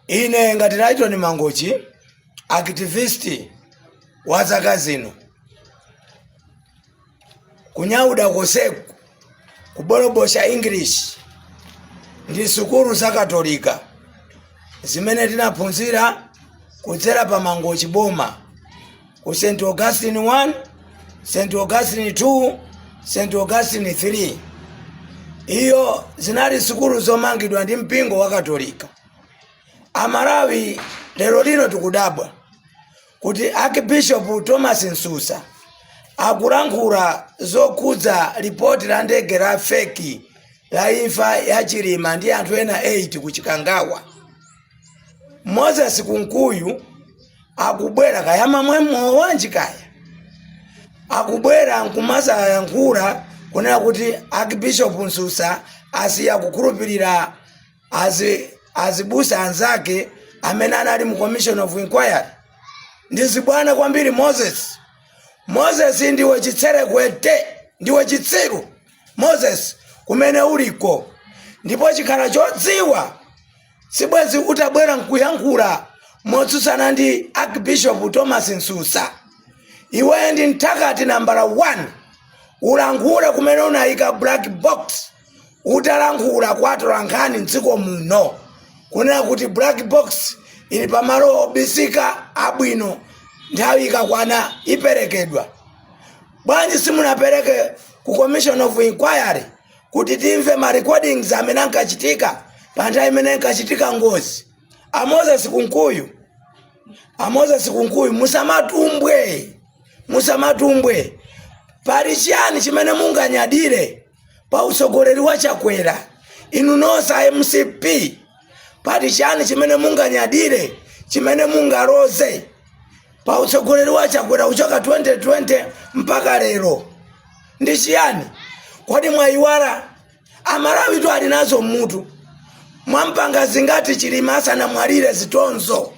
ine ngati Lyton Mangochi activist wa zaka zino kunyauda koseku kubolobosha English ndi sukulu za katolika zimene tinaphunzira kudzera pa Mangochi boma ku st augustine 1 st augustine 2 st augustine 3 iyo zinali sukulu zomangidwa ndi mpingo wa katolika amalawi lero lino tikudabwa kuti archbishop thomas msusa akulankhula zokhudza lipoti la ndege la feki la imfa ya chilima ndi anthu ena 8 ku chikangawa moses kunkuyu akubwera kaya amamwa mowa wanji kaya akubwera nkumazayankhula kunena kuti archbishop msusa asiya kukhulupirira azi azibusa anzake amene anali mu commission of inquiry ndi zibwana kwambiri moses moses ndiwe chitserekwete ndiwe chitsiru moses kumene uliko ndipo chikhala chodziwa sibwezi utabwera nkuyankhula motsutsana ndi archbishop thomas msusa iweyo ndi mthakati nambala 1 ulankhule kumene unayika black box utalankhula kwa atolankhani mdziko muno kunena kuti black box ili pamalo obisika abwino nthawi ikakwana iperekedwa bwanji simunapereke ku commission of inquiry kuti timve ma recordings amene ankachitika pa nthawi imene inkachitika ngozi a moses kunkuyu a moses kunkuyu musamatumbwe musamatumbwe pali chiyani chimene munganyadire pa utsogoleri wa chakwera inu nonse a mcp pali chiyani chimene munganyadire chimene mungaloze pa utsogoleri wa chakwera kuchoka 2020 mpaka lero ndi chiyani kodi mwayiwala amalawitu ali nazo mmutu mwampanga zingati chilima asanamwalire zitonzo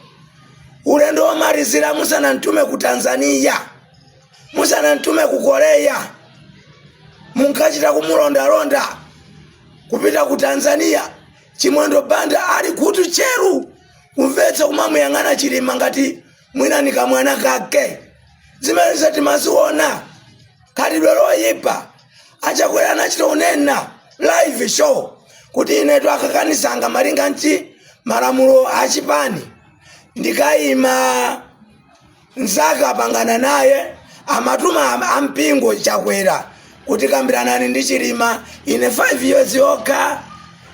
ulendo womalizira musanamtume ku tanzania musanamtume ku korea munkachita kumulondalonda kupita ku tanzania chimwendo banda ali khutu tcheru kumvetsa kumamuyang'ana chilima ngati mwina ni kamwana kake zimenezo timaziona khalidwe loyipa achakwera anachita unena live show kuti inetu akakandisankha malinga ndi malamulo achipani ndikayima zaka apangana naye amatuma am- ampingo chakwera kuti kambiranani ndi chilima ine 5 years yokha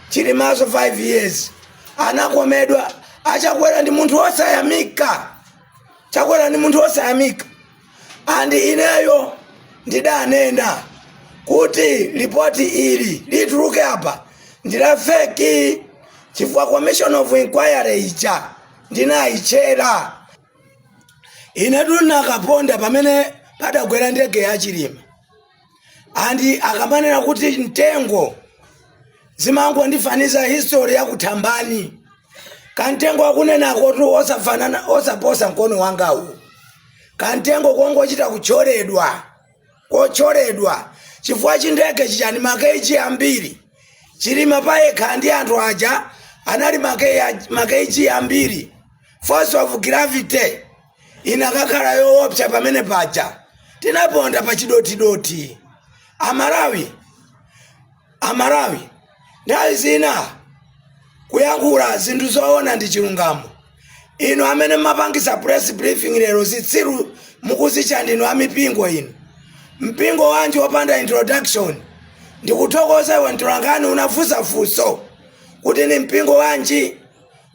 chilimanso 5 years anakomedwa achakwera ndi munthu wosayamika chakwera ndi munthu wosayamika and ineyo ndidanena kuti lipoti ili lituluke apa ndila feki chifukwa commission of inquiry ija ndinayitchera inetu ndinakaponda pamene padagwera ndege ya chilima andi akamanena kuti mtengo zimangondifanizira history ya kuthambani kamtengo akunenakotu osafanana osaposa mkono wangawu kamtengo kongochita kutcholedwa kotcholedwa chifukwa chindege chichani makeji ambiri chilima payekha ndi anthu aja anali make- makeji ambiri force of gravity inakakhala yoopsa pamene paja tinaponda pa chidothidothi amalawi amalawi nthawi zina kuyankhula zinthu zoona ndi chilungamo inu amene mumapangisa press briefing lero zitsiru mukudzitcha ndinu amipingo inu mpingo wanji wopanda introduction ndikuthokoza iwe mtolankhani unafunsa funso kuti ndi mpingo wanji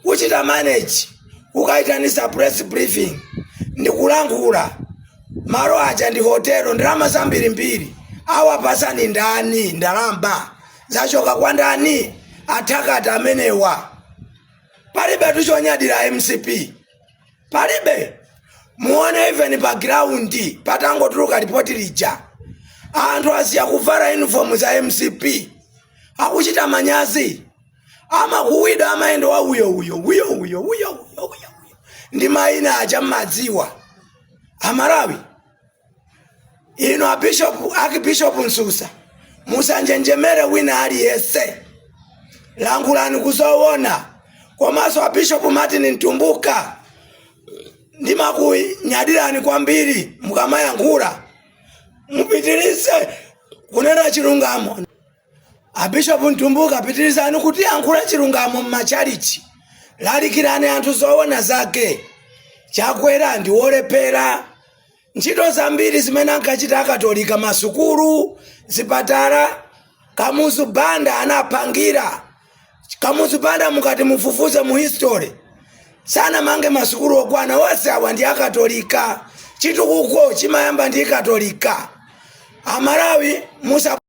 kuchita manage kukaitanisa press briefing ndi kulankhula malo aja ndi hotelo ndalama zambirimbiri awapatsa ndi ndani ndalama zachoka kwa ndani athakati amenewa palibe tu chonyadira mcp palibe muone even pa ground patangotuluka lipoti lija anthu asiya kuvala uniform za mcp akuchita manyazi amakuwidwa amayenda wa uyo uyo uyo uyo uyo uyo uyo ndi mayina aja mmadziwa amalawi inu abishopu akibishopu msusa musanjenjemere wina aliyense lankhulani kuzowona komanso abishopu martin mtumbuka ndimakunyadirani kwambiri mukamayankhula mupitirize kunena chilungamo abishopu mtumbuka pitirizani kutiyankhula chilungamo m'machalichi lalikirani anthu zoona zake chakwera ndi wolephera ntchito zambiri zimene ankachita akatolika masukulu zipatala kamuzu banda anapangira kamuzu banda mukati mufufuze mu history sanamange masukulu okwana onse awa ndi akatolika chitukuko chimayamba ndi katolika amalawi musa